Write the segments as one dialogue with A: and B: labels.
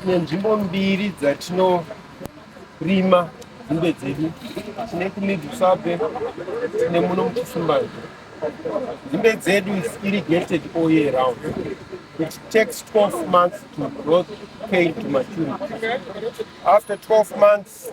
A: tine nzvimbo mbiri dzatinorima nzimbe dzedu tine kumidhusabe tine muno muchisumbazve nzimbe dzedu is irrigated all year round it takes 12 months to growth pain to maturity after 12 months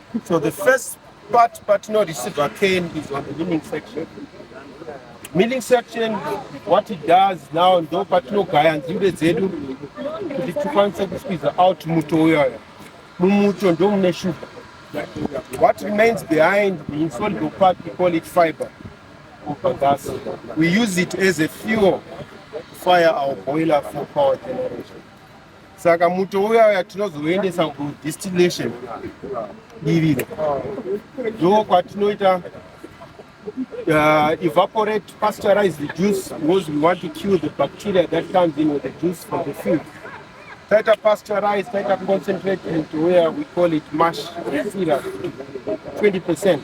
A: So the first part patinorisiva cane is on the milling section. Milling section, what it does now, ndo patinogaya nzimbe dzedu kuti tikwanise kusqueeza out muto uyaya. Mumuto ndo mune sugar. What remains behind, the insoluble part, we call it fiber. Gas. We use it as a fuel to fire our boiler for power generation. saka muto uya uya tinozoendesa kudistillation iriro ndo kwatinoita uh, evaporate pasteurize the juice because we want to kill the bacteria that comes in with the juice from the field taita pasteurize taita concentrate into where we call it mash syrup 20 percent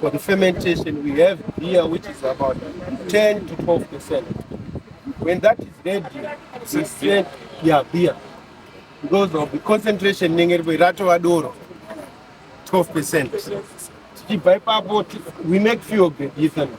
A: For the fermentation, we have beer which is about 10 to 12 percent. When that is ready, we send yeah, beer because of the concentration inenge iripo ratova doro 12 percent. Tichibva ipapo ti- we make fuel grade ethanol.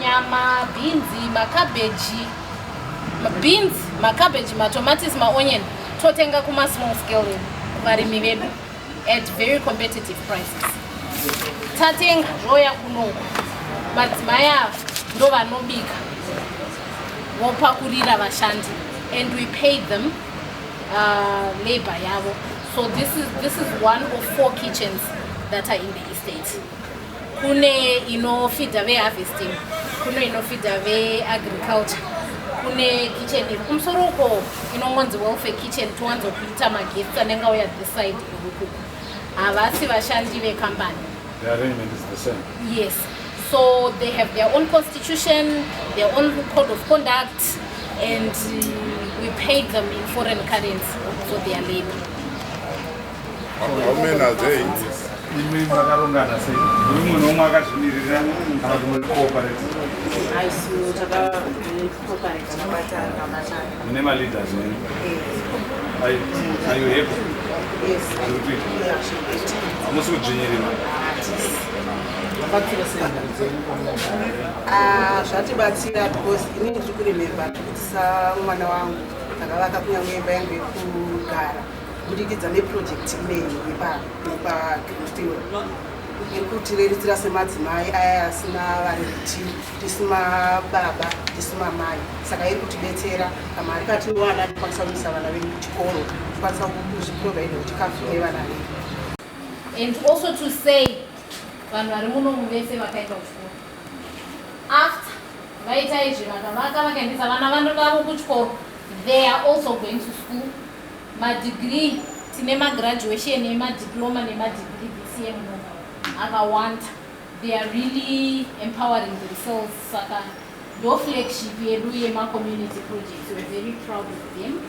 B: nyama bhinzi makabheji beans macabbage matomatis maonion totenga kuma small scale varimi vedu at very competitive prices tatenga zvoya kunoko madzimai ava ndo vanobika vopakurira vashandi and we pay them uh, labor yavo so this is, this is one of four kitchens that are in the estate kune inofidha veharvesting kune inofidha veagriculture kune kitchen iri kumusoro uko inongonzi welfare kitchen towanzokuita maguests anenge auya this side ikuku havasi vashandi vekambani
C: yes so
B: they have their own constitution their own code of conduct and uh, we paid them in foreign currency for their labor
C: Ah, zvatibatsira
D: because ini ndiri kurememba ndikutisa mwana wangu takavaka kunyangwe imba yangu yekugara kubudikidza neprojekti imene yepagreenfield iri kutireritsira semadzimai aya asina vari kuti tisu mababa tisu mamai saka iri kutibetsera kamari katinowana tikwanisa kuisa vana vedu kuchikoro tikwanisa kuzviprovaida kuchikafu nevana vedu and
B: also to say vanhu vari muno muvese vakaenda kuchikoro after vaita izvi vakavaka vakaendesa vana vanodavo kuchikoro they are also going to school Madegree tine magraduation emadiploma nemadegree this year muno akawanda. They are really empowering themselves saka ndoflagship yedu yemacommunity projects. We're very proud of them.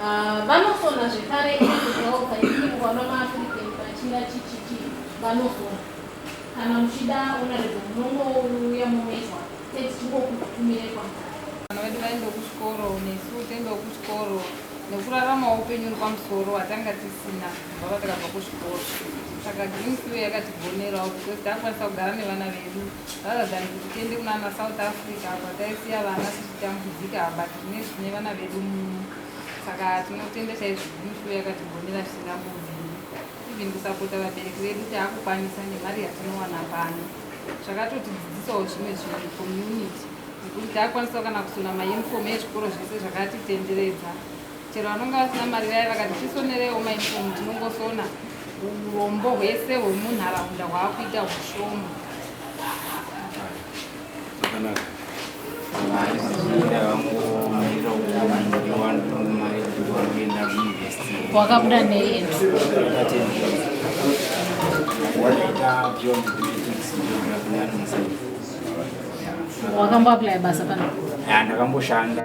B: Uh, vanosona zvekare kuhelpa ikimukwano maafrican vachira chichiti vanosona Kana muchida onoredza munongouya momezwa tete tingokutumire
E: kwamukati. Vana vedu vaendewo kuchikoro nesu tiendewo kuchikoro nekurarama upenyu uri pamusoro watanga tisina kubva patakabva kuchikoro saka green fuel yakatigonerawo because takwanisa kugara nevana vedu rather than kuti tiende kunana south africa apa taisiya vana tichitambudzika but tine zvine vana vedu muno saka tinotenda chaizvo green fuel yakatigonera zvisingambobviri even kusapota vabereki vedu taakukwanisa nemari yatinowana pano zvakatotidzidzisawo zvimwe zvinhu community nekuti taakwanisawo kana kusona mauniform ezvikoro zvese zvakatitenderedza chero vanonge vasina mari vaye vakati tisonerewo mauniform tinongosona urombo hwese hwemunharaunda hwaakuita hushoma
B: wakabuda nei wakamboaplaya basa pano ndakamboshanda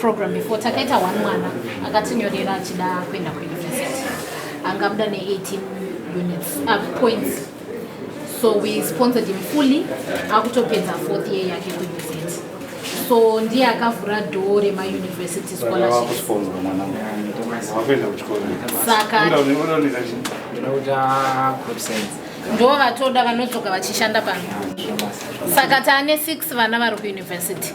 B: program before takaita one mwana akatinyorera achida kuenda kuuniversity anga abuda ne18 units uh, points so we sponsored him fully akutopedza fourth year yake kuuniversity so ndiye akavhura dhoo remauniversity scholarship saka ndo vatoda vanodzoka vachishanda pano saka taane six vana vari kuuniversity